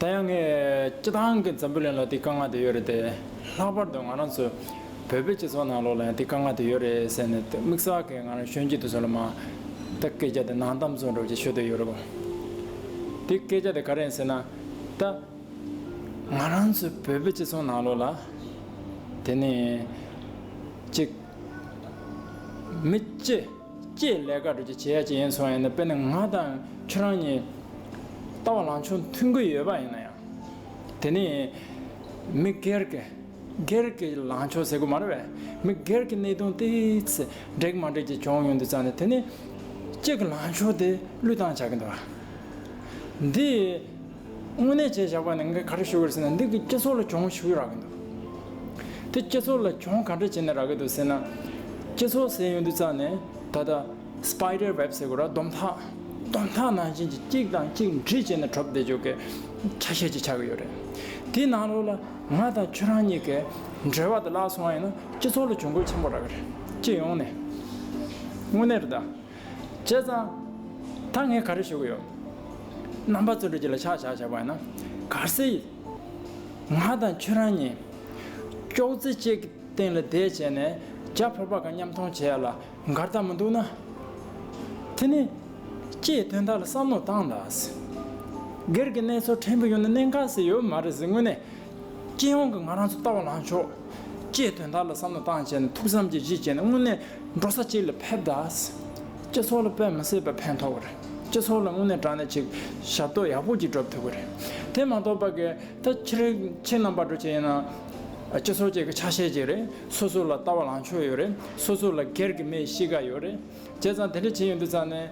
ད་ཡང་ངས་སྤྱི་བཏང་གི་འཛམ་བུ་གླིང་ལ་དེའི་དཀའ་ངལ་དེ་ཡོད་རེད་དེ། ལྷག་པར་དུ་ང་རང་ཚོ་བོད་པའི་སྤྱི་ཚོགས་ནང་ལོགས་ལ་ཡང་དེའི་དཀའ་ངལ་དེ་ཡོད་རེད་ཟེར་ནས་དམིགས་བསལ་གྱི་ང་རང་གཞོན་སྐྱེས་དུས་ཚོད་ལ་མ་ད་སྐད་ཆ་དེ་ནང་གཏམ་ཚུགས་འགྲོ་བ་ཅིག་ཤོད་དོན་ཡོད་རེད་བ། དེ་སྐད་ཆ་དེ་ག་རེད་ཟེར་ན། ད་ང་རང་ཚོ་བོད་པའི་སྤྱི་ཚོགས་ནང་ལོགས་ལ་དེ་ནི་གཅིག། མི་སྤྱི། ཀྱེ་ལས་ཀ་གྲོལ་གྱི་བྱེད་ཡ་ཅིག་ཡིན་སོང་ཡིན་ན་དཔེར་ན་ང་དང་ཁྱོད་རང་གཉིས་ལྟ་བ་ལང་ཆོ་མཐུན་གི་ཡོད་པ་ཡིན་ན་ཡང། དེ་ནི་མི་སྒེར་གྱི་སྒེར་གྱི་ལང་ཆོ་ཟེར་དགོས་མ་རེད་བས་མི་སྒེར་གྱི་གནད་དོན་དེའི་ཚེ་འགྲིག་མ་འགྲིག་ཅིག་བྱུང་ཡོང་དུས་ཙང་ནས་དེ་ནི་གཅིག་གི་ལང་ཆོ་དེ་བློས་བཏང་བྱ་གི་འདུག་འདིས། དངོས་གནས་བྱས་བཞག་པ་ནི་ངས་ག་རེ་ཞུ་གི་རེད་ཟེར་ན་འདི་གི་སྐྱེ་ཚོར་ལ་གྱོང་ཞུ་ཡི་རག་གི་འདུག་དེ་སྐྱེ་ཚོར་ལ་གྱོང་ག་འདྲ་བྱས་ནས་རག་གི་འདུག་ཟེར་ན། སྐྱེ་ཚོར་ཟེར་ཡོང་དུས་རྩ་ནས་ད་ལྟ Spider Web ཟེར་གོ་ར་སྡོམ་ཐག། སྡོམ་ཐག་ནང་བཞིན་གྱི་གཅིག་དང་གཅིག་འདྲིས་བྱས་ནས་གྲོ་བསྡད་འཇུག་གི་ཆ་ཤས་ཅིག་ཆགས་ཀྱི་ཡོད་རེད། དེའི་ནང་ལོགས་ལ་ང་དང་ཁྱོད་རང་གཉིས་ཀས་འབྲེལ་བ་དེ་བརླག་སོང་བ་ཡིན་ན་སྐྱེ་ཚོར་ལ་གྱོང་གུད་ཆེན་པོ་རག་གི་རེད་སྐྱེས་ཡོང་ནས། དངོས་གནས་རེད་ད། བྱས་ཙང། ད་ངས་ག་རེ་ཞུ་གི་ཡོད། རྣམ་པ་ཚོ་འགྲུལ་གྱི་ལ་ཆགས་བཞག་བྱས་པ་ཡིན་ན། ག་སྲིད། ང་དང་ཁྱོད་རང་གཉིས། ཅོག་རྩེ་གཅིག་གི་སྟེང་ལ་བསྡད་བྱས་ནས་རྒྱ་བོད་པ་གང་མཉམ་མཐོང་བྱས་ལ་འགར་ཐག་མི་འདུག་ན། དེ་ནི། ཀྱེའི་དོན་དག་ལ་བསམ་བློ་བཏང་ད། སྒེར་གྱི་གནས་ཚུལ་ཕྲན་བུ་ཡོད་ན་གནས་འགག་སྲིད་ཡོད་མ་རེད་ཟེར་དངོས་གནས་སྤྱན་དབང་གིས་ང་རང་ཚོ་ལྟ་བ་ལང་ཤོག། ཅེས་དོན་དག་ལ་བསམ་བློ་བཏང་བྱས་ནས་ཐུགས་བསམ་གྱི་གཞི་བྱས་ནས་དངོས་གནས་འགྲོ་ས་གཅིག་ལ་ཕེབས་དང། སྤྱི་ཚོགས་ལ་དཔེ་མི་སྲིད་པ་ཕན་ཐོགས་པ་རེད། སྤྱི་ཚོགས་ལ་དངོས་གནས་དྲང་གནས་ཅིག་ཞབས་ཏོག་ཡག་པོ་ཅིག་སྒྲུབ་ཐུབ་པ་རེད། དེ་མ་གཏོགས་པ་གི་ད་ཁྱེད་ཁྱེད་རྣམ་པ་འགྲོ་ཆེད་ཡིན་ན། སྤྱི་ཚོགས་ཅིག་གི་ཆ་ཤས་ཅིག་རེད། སོ་སོ་ལ་ལྟ་བ་ལང་ཕྱོགས་ཡོད་རེད། སོ་སོ་ལ་སྒེར་གྱི་མེད་གཤིས་ཀ་ཡོད་རེད། བྱས་ཙང་དེ་འདྲ་བྱེད་ཡོང་དུས་ཙང་ནས་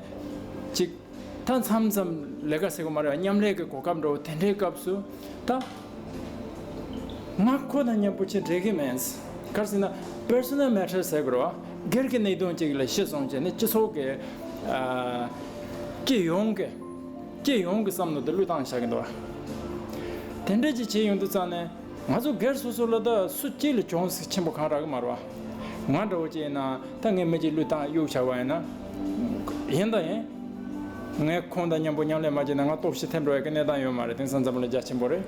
ཅིག། མཐའ་མཚམས་ཙམ་ལས་ཀ་ཟེར་གོ་མ་རེད་མཉམ་ལས་ཀྱི་གོ་སྐབས་འགྲོ་དེ་འདྲའི་སྐབས་སུ་ད། ང་ཁོ་དང་མཉམ་པོ་ཆེ་འབྲེལ་གྱི་མེད། གར་སེ་ན Personal Matter ཟེར་དགོས་རོ། སྒེར་གྱི་གནད་དོན་ཅིག་ལ་ཤི་སོང་བྱས་ནས་སྤྱི་ཚོགས་ཀྱི། སྤྱི་ཡོངས་ཀྱི། སྤྱི་ཡོངས་ཀྱི་བསམ་བློ་དེ་བསླུས་བཏང་བྱ་གི་འདུག་བ། དེ་འདྲས་ཅིག་བྱས་ཡོང་དུས་ཙང་ནས་ང་ཚོ་སྒེར་སོ་སོ་ལ་ད་སུ་སྐྱིད་ལ་གྱོང་གསེག་ཆེན་པོ་གང་རག་གི་མ་རེད་བ། ང་འདྲ་བོ་གཅིག་ཡིན་ན་ད་ངས་མི་གཅིག་བསླུས་ཐང་གཡུག་བྱ་བ་ཡིན་ན། ཡིན་དང་ཡིན། ངས་ཁོང་དང་མཉམ་པོ་མཉམ་ལས་མ་བྱས་ན་ང་སྟོབས་ཤི་ཐེབས་འགྲོ་བའི་གནས་སྟངས་ཡོད་མ་རེད་དེང་སང་འཛམ་བུ་ལ་རྒྱ་ཆེན་པོ་རེད།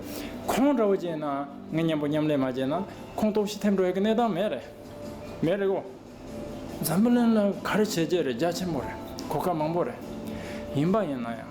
ཁོང་འདྲ་བོ་གཅིག་ཡིན་ན་ངས་མཉམ་པོ་མཉམ་ལས་མ་བྱས་ན་ཁོང་སྟོབས་ཤི་ཐེབས་འགྲོ་བའི་གནས་སྟངས་མེད་རེད། མེད་རེད་གོ། འཛམ་བུ་ལན་ལ་ག་རེ་བྱས་བྱས་རེད་རྒྱ་ཆེན་པོ་རེད་གོ་སྐབས་མང་པོ་རེད། ཡིན་པ་ཡིན་ན་ཡང།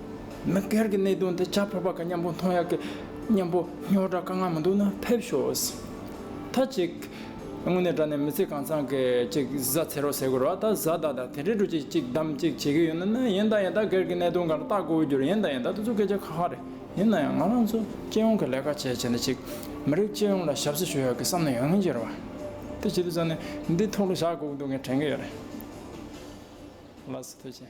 མི་སྒེར་གྱི་གནད་དོན་དེ་བྱ་ཕོད་པ་ག་སྙམ་པོ་མཐོང་ཡག་གི་སྙམ་པོ་སྨྱོ་སྒྲ་དཀའ་ངལ་མི་འདུག་ན་ཕེབས་ཤོག། ད་ཅིག། དངོས་གནས་དྲ་གནས་མི་ཚེ་གང་ཚང་གི་ཅིག་བཟའ་ཚེ་རོགས་ཟེར་དགོས་རོགས་ད་བཟའ་ཟླ་དང་དེ་འདྲའི་འགྲོ་ཅིག་ཅིག་བདམས་ཅིག་བྱེད་ཀྱི་ཡོད་ན་ནི་ཡིན་ད་ཡིན་ད་སྒེར་གྱི་གནད་དོན་གང་ར་བལྟ་དགོས་རྒྱུར་ཡིན་ད་ཡིན་ད་དེ་ཚོ་སྐད་ཆ་ཁག་ཁག་རེད་ཡིན་ན་ཡང་ང་རང་ཚོ་སྤྱི་ཡོངས་ཀྱི་ལས་ཀ་བྱས་བྱས་ན་ཅིག་མི་རིགས་སྤྱི་ཡོངས་ལ་ཞབས་སུ་ཞུ་ཡག་གི་བསམ་ན་ཡོང་ངེས་རེད་བ། དེ་བྱེད་དུ་བཟོ་ནས་འདི་ཐོག་ལ་བཞག་དགོས་ཀྱི་འདུག་ངས་དྲན་གྱི་ཡོད་རེད། ལགས་སོ་ཐུགས་ཆེ།